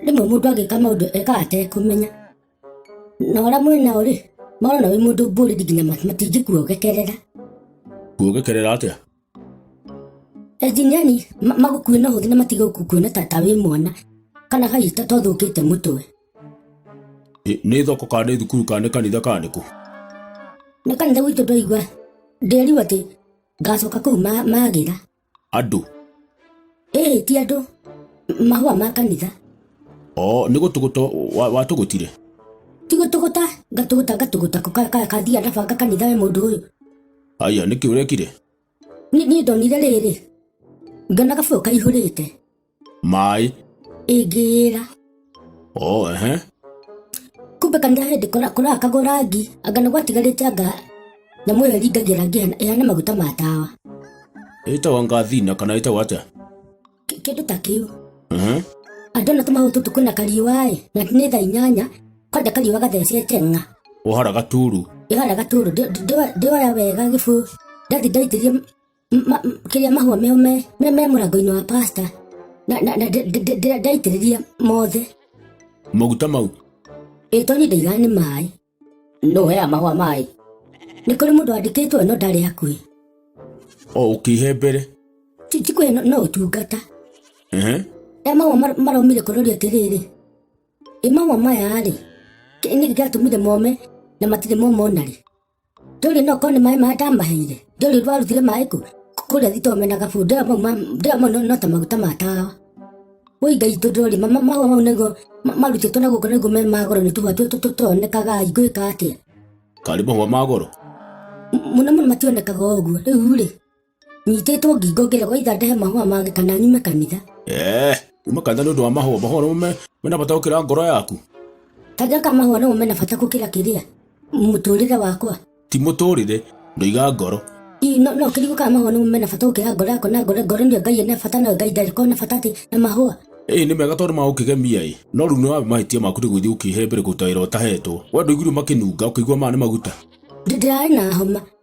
rĩmwe mũndũ angĩka maũndũ ekaga atekũmenya na ũrĩa mwĩ nao rĩ marona wĩ mũndũ mbũrĩri nginya ma- matingĩkuogekerera kuogekerera atĩa enjiniani ma- magũkuĩ na ũhũthũ na matige gũkuona ta ta wĩ mwana kana hihi ta twathũkĩte mũtwe Ĩ, nĩ thoko kana nĩ thukuru kana nĩ kanitha kana nĩkũ nĩ kanitha gwitũ ndwaigua ndĩriu atĩ ngacoka kũu ma- magĩra andũ ĩĩ ti andũ mahũa ma kanitha o nĩ gũtũgũtũ wa- watũgũtire tigũtũgũta ngatũgũta ngatũgũta kũ- ka- ka- kathiĩ ndabanga kanitha we mũndũ ũyũ aya nĩkĩ ũrekire Ni- niĩ ndonire rĩrĩ ngona gabũyũ kaihũrĩte maĩ ingĩra o ehe kumbe kanitha hĩndĩ kũraga kagwo rangi anga nĩ gwatigarĩte anga nyamũ ĩyo ĩringagia rangi ĩhana- ĩhana maguta ma tawa ĩtagwo ngathina kana ĩtagwo atĩa Kĩ- kĩndũ ta kĩu Ehe. andũ ona tũmahũ tũtũ kwĩna kariũa-ĩ na nĩ thaa inyanya kwanja kariũa gathecete ng'a ũhara gaturu ĩhara gatũrũ ndĩoya wega gĩbũ ndathi ndaitĩria ma, m- kĩrĩa mahũa meo me me, me mũrango-inĩ wa pasta na, na, na ndĩ- ndĩ- ndĩ- ndaitĩrĩria mothe maguta mau ĩ tondũ ndaigaga nĩ maĩ no hea mahũa maĩ nĩ kũrĩ mũndũ wandĩkĩtwo no ndarĩ hakuhĩ o ũkĩhe mbere Ti- ti kwĩ no- no ũtungata Ehe. e mahũa mar- maromire kũroria atĩrĩrĩ ĩ mahũa maya rĩ kĩ- nĩ gĩgatũmire mome na matirĩ moma ona rĩ ndũrĩ no korwo nĩ maĩ marĩa ndamaheire ndũrĩ rwarutire maĩ kũ kũrĩa thitoo mena gabu ndĩra mau ma- ndĩra mau no- no ta maguta ma tawa woi ngai itũ ndũrĩ ma- ma- mahũa mau nĩguo ma- marutĩtwo na gũkũ nĩguo me magoro nĩ tũhũa tũtũ tũtonekaga ingĩka atĩa karĩ mahũa ma goro M- mũno mũno mationekaga ũguo rĩu rĩ nyitĩtwo ngingo ngĩrogotha ndehe mahũa mangĩ kana nyume kanitha Eh, kuma kanitha nĩ ũndũ wa mahũa mahũa nĩmo me- mena bata gũkĩra ngoro yaku kanja ka mahũa namo mena bata gũkĩra kĩrĩa mũtũrĩre wakwa ti mũtũrĩre ndoiga ngoro Ii, no no kĩrigũ ka mahũa namo mena bata gũkĩra ngoro yakwa na ngoro ngoro nĩyo ngai ena bata nayo ngai ndarĩ kona bata atĩ na mahũa ĩĩ nĩ mega tondũ magũkĩgemia ĩ no rĩu nĩ wa mahĩtia maku nĩ gũthiĩ ũkĩhe mbere kũruta wĩra ũtahetwo we ndũiguire makĩnunga ũkĩigua maya nĩ maguta Ndĩ- ndĩrarĩ na homa